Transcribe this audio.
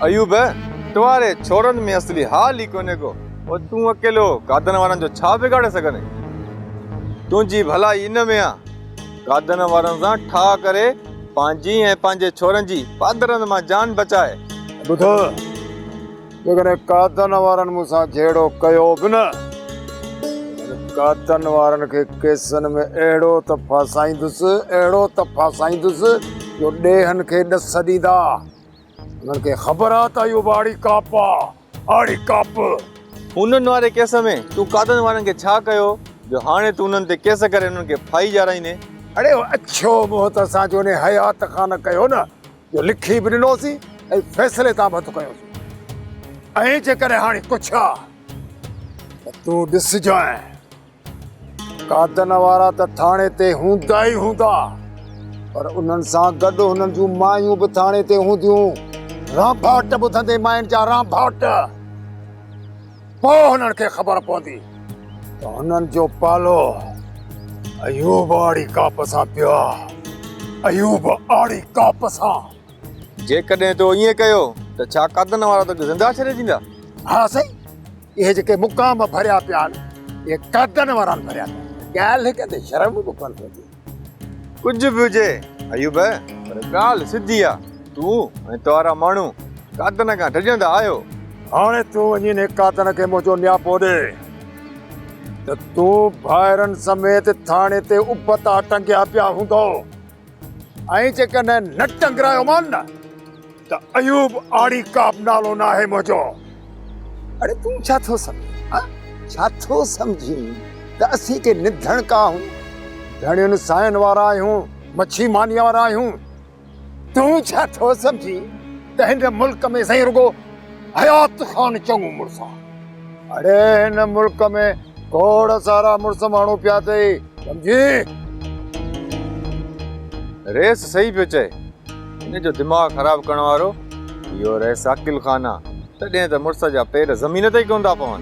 ايوب! ٽواري ڇورن ۾ اصلي حال ئي ڪونهي ڪو. پوء تون اڪيلو گادن وارن جو ڇا بگاڙي سگهندين؟ تنهنجي ڀلائي ان ۾ آ. گادن وارن سان ٺاهه ڪري پنهنجي ۽ پنهنجي ڇورن جي پادرن مان جان بچاء. ٻڌ! جيڪڏهن گادن وارن مون سان جهيڙو ڪيو به نه، ته گادن وارن کي ڪيسن ۾ اهڙو ته ڦاسائيندس، اهڙو ته ڦاسائيندس، جو ڏيهن کي ڏس ڏيندا. انهن کي خبر آ ته اهو ٻاڙي ڪاپ آ، آڙي ڪاپ. هونئن واري ڪيس ۾ تون قادن وارن کي ڇا ڪيو جو هاڻي تون انهن تي ڪيس ڪري انهن کي ڦاهي ڄارائيندين؟ اڙي هو اڇو منهن ته اسان جون انهي حيات کان نه ڪيو نه جو لکي به ڏنوسين ۽ فيصلي تان به هٿ کنيوسين. ۽ جيڪڏهن هاڻي ڪڇ آ ته تون ڏسجانء. قاتن وارا ته ٿاڻي تي هوندا ئي هوندا، پر انهن سان گڏ هنن جون مايون به ٿاڻي تي هونديون. رانڀاٽ ٻڌندي ماين جا رانڀاٽ، پوء هنن کي خبر پوندي ته هنن جو پالو ايوب آڙي ڪاپ سان پيو آهي، ايوب آڙي ڪاپ سان. جيڪڏهن تو ائين ڪيو ته ڇا قاتن وارا توکي زنده ڇڏي ڏيندا؟ ها سائين! اهي جيڪي مقام ڀريا پيا آهن اهي قدن وارا ڀريا پيا آهن ڳالهه هڪ تي شرم به ڪونه ٿي ڪجهه به هجي ايوب پر ڳالهه سڌي آهي تون ۽ توهارا ماڻهو قدن کان ڊڄندا آهيو هاڻي تون وڃي انهي قدن کي منهنجو نياپو ڏي ته تون ڀائرن سميت ٿاڻي تي ابتا ٽنگيا پيا هوندو ۽ جيڪڏهن نه ٽنگرايو مان نه ته ايوب آڙي ڪاب نالو نه آهي منهنجو. اڙي تون ڇا ٿو سمجهين؟ ڇا ٿو سمجهين ته اسين ڪي نڌڻڪا آهيون؟ ڌڻين سائين وارا آهيون، مڇي مانيء وارا آهيون. تون ڇا ٿو سمجهين ته هن ملڪ ۾ سائين رڳو حيات خان چڱو مڙس آ. اڙي هن ملڪ ۾ کوڙ سارا مڙس ماڻهو پيا اٿئي سمجهي. رئيس صحيح پيو چئي. هن جو دماغ خراب ڪرڻ وارو اهو رئيس عاقل خان آ. تڏهن ته مڙس جا پير زمين تي ئي ڪونه ٿا پون.